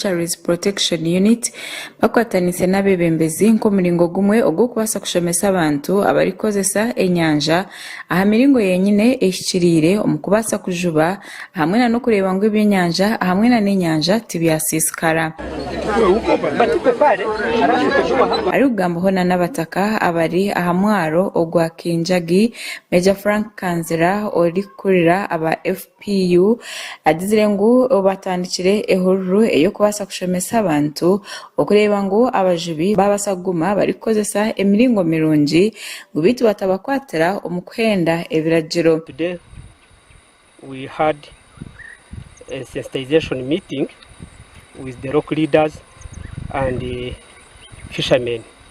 Fisheries Protection Unit bakwataniise n'abeebembezi nk'omuringo gumwe ogw'okubaasa kushomesa abantu abarikukozesa enyanja aha miringo yenyine ehikiriire omu kubaasa kujuba hamwe nana okureeba ngu ebyenyanja hamwe nana enyanja tibyasiisikara. Arikugambaho nana abataka abari aha mwaaro ogwa Kinjagi, Major Frank Kanzira orikukurira aba FPR, PU, agizire ngu batandikire ehururu ey'okubaasa kushomesa abantu okureeba ngu abajubi baabaasa kuguma barikukozesa emiringo mirungi ngu beitu batabakwatira omu kuhenda ebiragiro. Today we had a sensitization meeting with the local leaders and fishermen.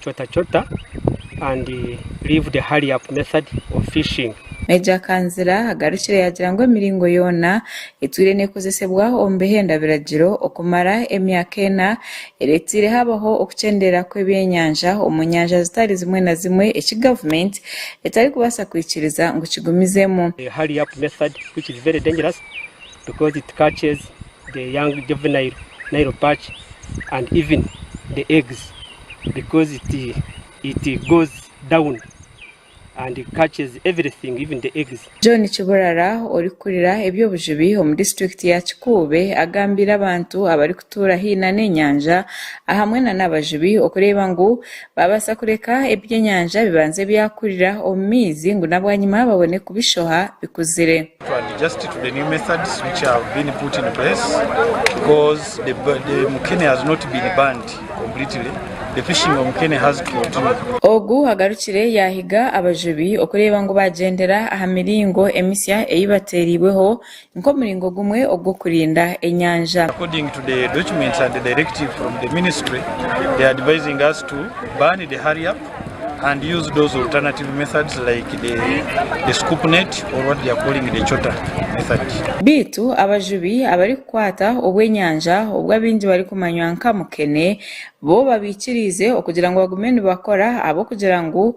chota chota and leave the hurry up method of fishing. Major Kanzira agarukire yaagira ngu emiringo yoona etwire neekozesebwa omu bihenda biragiro okumara emyaka ena ereeteire habaho okukyendeera kw'ebyenyanja omu nyanja zitari zimwe na zimwe eki gavumenti etarikubaasa kwikiriza ngu kigumizemu. The hurry up method which is very dangerous because it catches the young juvenile nile perch and even the eggs because it it goes down and catches everything even the eggs. John Kiburara orikukurira eby'obujubi omu disiturikiti ya Kikuube agambiire abantu abarikutuura haihi nana enyanja ahamwe nana abajubi okureeba ngu Baabaasa kureka ebyenyanja bibanze byakurira omu maizi ngu n'abwanyima babone kubishoha bikuzire. Ogu agarukire yaahiga abajubi okureeba ngu baagyendera aha miringo emisya ei bateereirweho nk'omuringo gumwe ogw'okurinda enyanja. According to the documents and directive from the ministry, they are advising us to burn the hurry up and use those alternative methods like the the scoop net or what they are calling the chota method. Beitu abajubi abarikukwata obw'enyanja obu abaingi barikumanywa nka mukene bo babaikiriize okugira ngu bagume nibakora ahabw'okugira ngu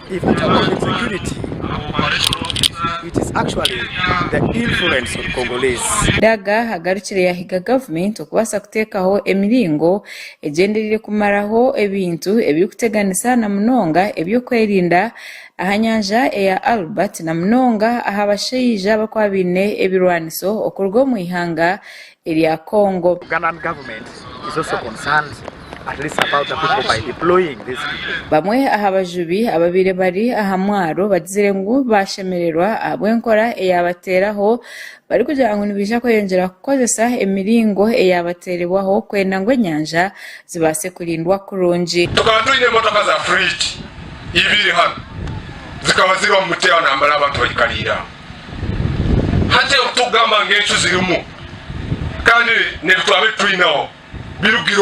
Daga agarukire yahiga gavumenti okubaasa kuteekaho emiringo egyendereire kumaraho ebintu ebirikuteganisa na munonga eby'okwerinda aha nyanja eya Albert na munonga aha bashaija abarikuba baine ebirwaniso okuruga omu ihanga erya Congo. Bamwe aha bajubi ababaire bari aha mwaro bagizire ngu baashemererwa ahabw'enkora eyaabateeraho barikugira ngu nibaija kweyongyera kukozesa emiringo eyaabateerebwaho kwenda ngu enyanja zibaase kurindwa kurungi. Tukaba twine emotoka za fridge ibiri hanu zikaba ziri omu muteera nambara abantu baikariire aho. Hati ebi turikugamba ngu encu zirimu kandi n'ebi twaba titwine aho birugire